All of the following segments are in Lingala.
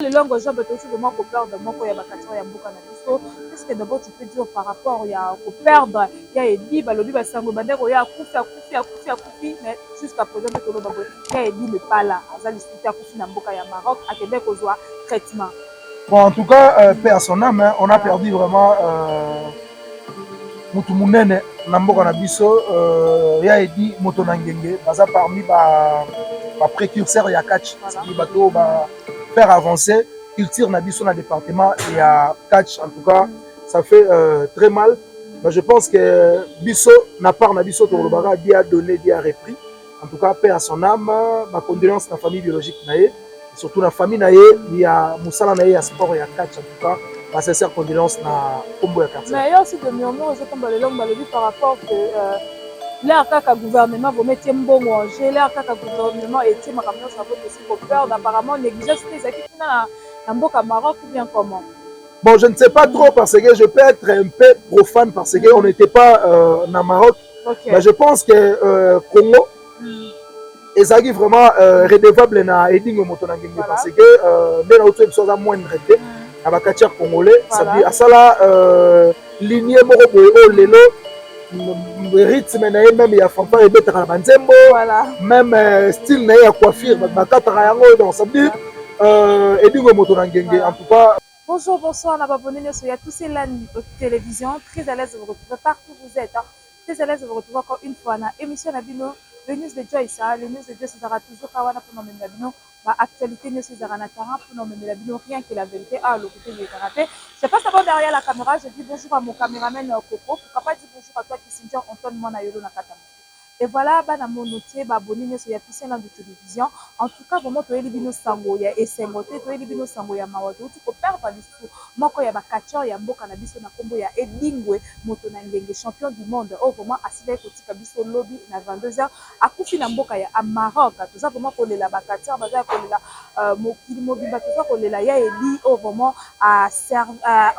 Lelo yango eza bato aussi vraiment ko perdre moko ya ba Cachorro ya mboka na biso. Qu'est-ce que d'abord tu peux dire par rapport ya ko perdre ya Eddy? Ba lobi ba sango ebandaki koya akufi, akufi, akufi, akufi mais jusqu'à present nde toloba boye. Ya Eddy n'est pas là, aza lisusu te, akufi na mboka ya Maroc, akendaki kozua traitement. Bon en tout cas euh, paix à son ame hein, on a perdu vraiment euh, mutu munene na mboka na biso euh, ya edi moto na ngenge baza parmi ba, ba précurseur ya catch bato ba faire avancer culture na biso na département ya catch en tout cas ça fait euh, très mal mais je pense que biso na part na biso tokolobaka Dieu a donné Dieu a repris en tout cas paix à son âme ma condoléance na famille biologique na ye surtout na famille na ye ya mosala na ye ya sport ya catch en tout cas ba sincère condoléance na kombo ya quartier mais yo aussi de murmure ozotomba lelo balobi par rapport que euh, lere kaka gouvernement bometie mbongo en jeu lere kaka gouvernement etie makambo nyonso abotesi Copeurd apparemment negligence pe ezalaki kuna na mboka Maroc ou bien comment? Bon, je ne sais pas trop parce que je peux être un peu profane parce que on n'était pas euh, na Maroc. Okay. Mais je pense que euh, Congo mm. ezalaki vraiment euh, redevable na Edingo moto na ngenge voilà. parce que euh, nde na uti biso aza moindre te mm. na bakati ya congolais voilà. asala euh, linie moko boye oyo lelo rythme na ye meme ya fanfare ebetaka na banzembo meme euh, style na ye ya coiffure bakataka yango donc ça veut dire euh, edingo ya moto na ngenge en tout cas Bonjour, bonsoir, n'a abonné Nesso à tous ces LAN télévision. Très à l'aise de vous retrouver partout où vous êtes. Hein. Très à l'aise de vous retrouver encore une fois dans l'émission Nabino, le news de Joyce. Hein. Le news de Joyce sera toujours Kawana pour nous, Nabino. ba actualites nioso ezalaka na Tara pona omemela bino rien que la verite awa lokuta elekaka te je passe d'abord derrière la camera je dis bonjour à mon cameraman Coco pourquoi pas dire bonjour à toi Kissinger Antoine Mwana Yolo na kata moto et voilà bana mono tie ba abonne nioso ya Picien Landu Television en tout cas vraiment toyeli bino sango ya esengo te toyeli bino sango ya mawa touti ko perdre Mputu, moko ya ba catcheurs ya mboka na biso na kombo ya Edingwe moto na ngenge, champion du monde oyo vraiment asilaki kotika biso lobi na 22 heures, akufi na mboka ya Maroc. Toza vraiment kolela ba catcheurs baza ya kolela mokili mobimba toza kolela ya Edy oyo vraiment a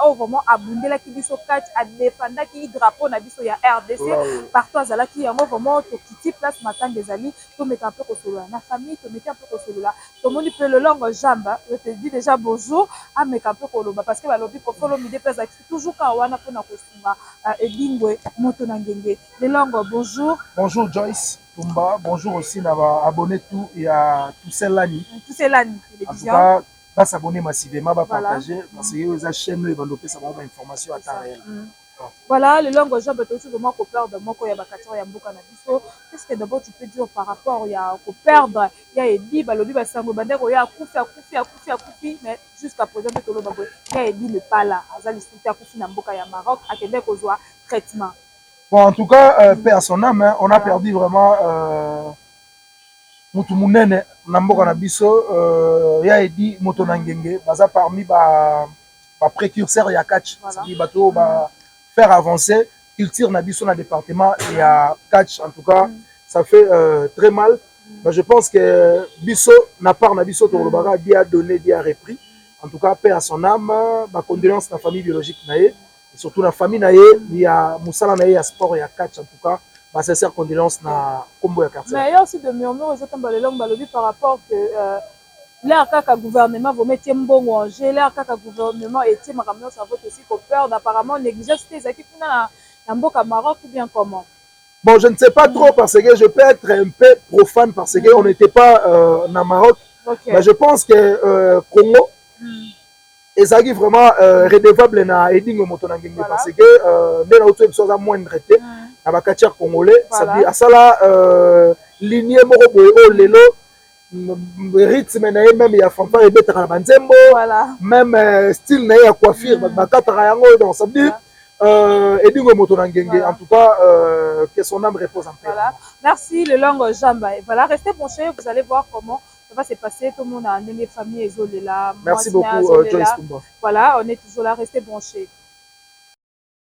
oyo vraiment abundelaki biso catch, a defendaki drapeau na biso ya rdc partout azalaki. Yango vraiment tokiti place matanga ezali tomeka mpe kosolola na famille, tomeki mpe kosolola Tomoni pe lolongo jamba je te dis dejà bozo ameka pe koloba parce que balobi koffi olomide pe azalaki toujours kaka wana pona kosunga edingwe moto na ngenge lolongo bonjour. Bonjour Joyce tumba bonjour aussi na ba abonne tout ya tuselani tuselani television ba s'abonner massivement ba partager parce que eza chaine oyo ebanda opesa bango ba information ya temps reelle. Voilà lelo yango job tosi vraiment ko perdre moko ya ba catcheur ya mboka na biso qu'est ce que d'abord tu peux dire par rapport ya ko perdre ya Eddy balobi ba sango ebandaki koya akufi akufi akufi akufi mais jusqu'à present nde toloba boye ya Eddy n'est pas là aza lisusu te akufi na mboka ya Maroc akendaki kozwa traitement Bon, en tout cas, euh, paix à son âme, hein, on a perdu vraiment euh, mutu munene na mboka na biso euh, ya edi moto na ngenge baza parmi ba ba précurseur ya catch c'est-à-dire bato oyo ba faire avancer culture na biso na département ya catch en tout cas mm. ça fait euh, très mal mm. mais je pense que euh, biso na part na biso tokolobaka mm. dia donné dia repris en tout cas paix à son âme ba condoléances na famille biologique na ye et surtout na famille na ye ya mosala na ye ya sport ya catch en tout cas ba sincère condoléances na kombo ya quartier mais il y a aussi des murmures ezotamba lelo balobi par rapport que euh, Leur kaka gouvernement vraiment etie mbongo en jeu leur kaka gouvernement etie makambo nionso na vote esiko perdre apparemment negligence pe ezalaki kuna na mboka Maroc ou bien comment? Bon je ne sais pas trop parce que je peux etre un peu profane parce que on n'etait pas euh, na Maroc okay. mais je pense que euh, Congo mm. ezalaki vraiment euh, redevable na edingo moto na ngenge parce que euh, nde na otoyebi biso aza moindre te na bakatiere congolais asala euh, linie moko boye oyo oh, lelo rythme na ye meme ya fanfare ebetaka na banzembo meme euh, style na ye ya coiffure mm. bakataka yango donc ça veut dire euh, edingo moto na ngenge voilà. en tout cas euh, que son âme repose en paix voilà. merci le long jamba voilà restez branché vous allez voir comment ça va se passer tout le monde a ndenge famille ezolela merci beaucoup euh, Joyce Tumba voilà on est toujours là restez branché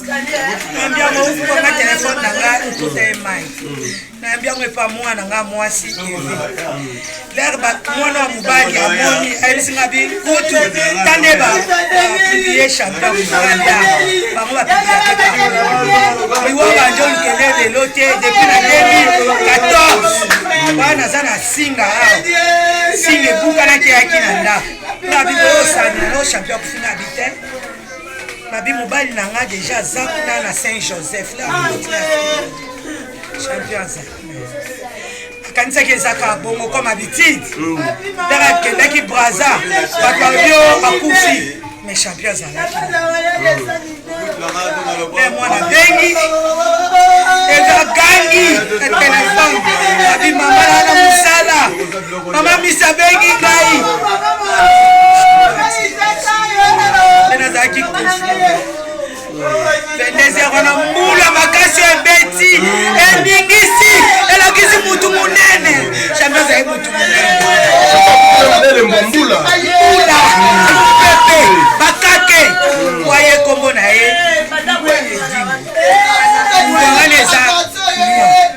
nayambi yango okanga telefone na nga otuta ye mai nayambi yango epa mwana na nga mwasi eve lere mwana wa mobali amoni ayebisi nga bi kutu tande bapiblie champion mokanda bango bapibieaiwa banje olukele lelo te depuis na 2014 wana naza na singa awa singa ebukanaki yaki na ndako nga biboyosani no champion kufinga bite Babi mobali na nga deja aza kuna na Saint Joseph la champion aza akanisaki ezaka bongo comme habitude ndaka akendaki braza bato babio bakufi mais champion azalaki mwana bengi eza gangi na telefone abi mama na mosala Mama Misi abengi ngai. Nazalaki pendezi ya wana mbula makasi ebeti eningisi elakisi mutu monene jambi azali mutu monene mbula pepe bakake waye kombo na ye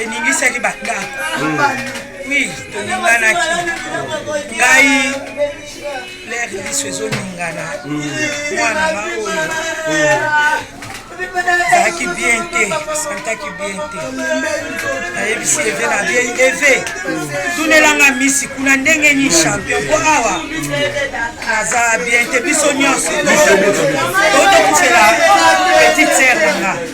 eningisaki bakako wi toninganaki ngai lere liso ezoningana mwana nga oyo ezalaki bien te santaki bien te nayebisi eve na vie eve tunelanga misi kuna ndenge nini champion mpo awa naza bien te biso nyonso totokufela petite sere nanga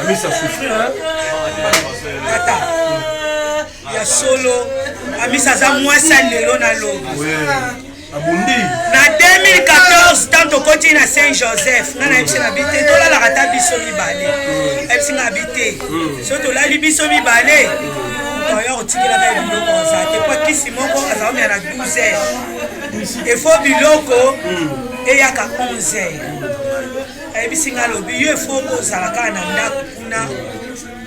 amisa souffrir hein tata ya solo amisa aza mwasi ya lelo na lobi abundi na 2014 ntango tokoti na saint joseph nga nayebisi na bite tolalaka ata biso mibale ayebisi nga bite so tolali biso mibale oyo otikelaka ye biloko oza te mpo kisi moko aza omia na 12 heures efo biloko eyaka 11 heures ayebisi ngai alobi yo efoko ozala kaka na ndako kuna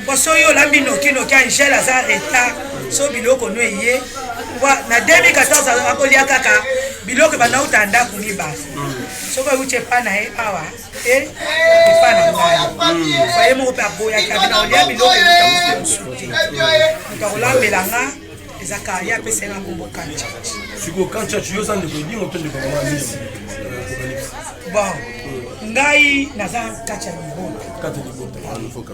mpo soki olambi nokinoki angele aza retard so biloko no eye na 2014 akolia kaka biloko banauta ndako mibale soki oyuti epa na ye awa te epa na ngai faye moko mpe aboyaki abina olia biloko mosusu te moto akolambela nga eza kali apesa ye na kombo kancha sikoyo kancha yo oza ndeko edingo to ndeko mama misi bon ngai naza kati ya libota kati ya libota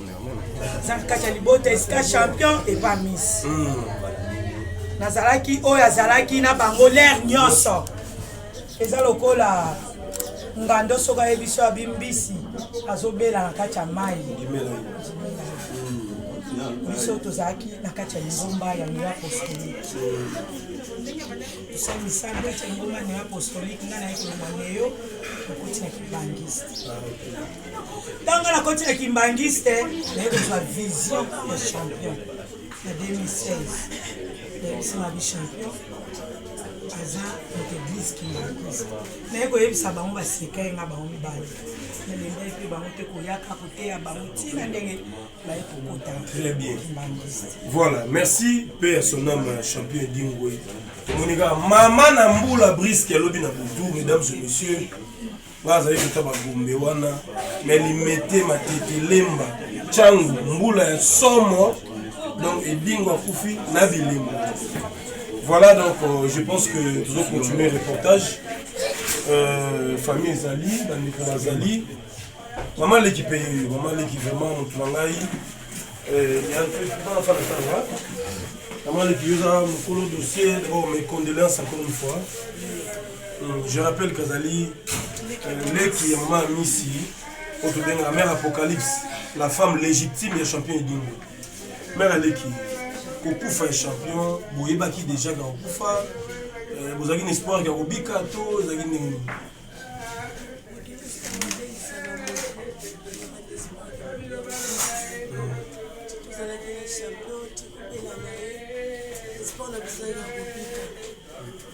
naza kati ya libota esika champion epa miss hmm. nazalaki oyo azalaki na bango lere nyonso eza lokola ngando soki ayebi so abi mbisi azobela na kati ya mai biso tozalaki na kati ya lingomba ya neo apostolike tosali misala na kati ya lingomba ya neo apostolike ngai naye kolongwa neyo nakoti na kimbangiste ntango nakoti na kimbangiste naye kozwa vision ya champion na 2016 nayebisama bichampion aza moto eglise kimbakus naye koyebisa bango baseka ye nga bango mibale nalendaki mpe bango mpe koyaka koteya bango ntina ndenge baye kokota très bien voilà merci mpe ya son ame champion edingoi tomoni kaka mama na mbula briske alobi na butu mesdames et messieurs nga azali kota bagombe wana na limete matete lemba cangu mbula ya somo donc edingo akufi na bilembo voilà donc euh, je pense que tozo continuer reportage euh, famille ezali bandeko bazali mama leki mpe yoyo mama leki vraiment motu na ngai euh, yafanatanga mama leki yoza mokolo dossier oh mes condoléances encore une fois Hmm, je rappelle kazali euh, leki ya mama misi oyo tobengaka mère apocalypse la femme légitime ya champion edingo mère aleki kokufa ya champion boyebaki déjà ka kokufa euh, bozalaki na espoir ya kobika to ezalaki ndenge nini Thank you.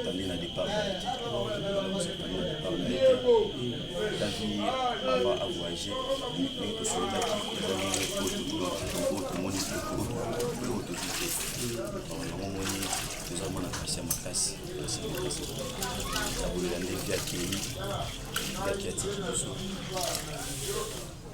Atandi na départ na ye te. Atandi na départ na ye te. Ta vie avant à voyager, ndenge tosololaki ezali oyo tomoni te, oyo tozi te. Yango omoni toza mwana kasi ya makasi, kasi ya makasi. Nakolela nde vie akei, vie akei atiki biso.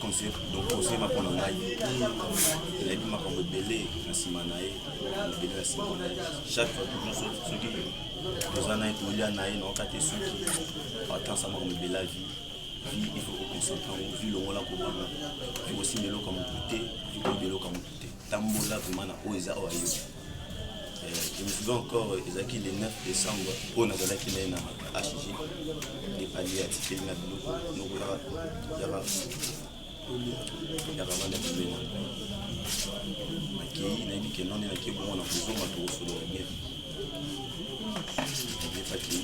conseil donc conseil mako na ngai nayebi makambo ebele na nsima na ye ebele na nsima na ye chaque fois toujours soki toza na ye tolia na ye naoka te soki atansa makambo ebele ya vie vie il faut koconcentre yango vie longola kobanga vie kosimba eloko ya motu te vie koyeba eloko ya motu te tambola vraimen na oyo eza oyo ayo je me souviens encore ezalaki le 9 décembre mpo nazalaki na ye na hg epali ya tikeli na biloko noko yaka yaka banda kibena nakei nayebi ke none nakei bongo na kozonga tokosolola bien ebepaki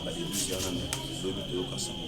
badebisi wana na zobi toyoka sango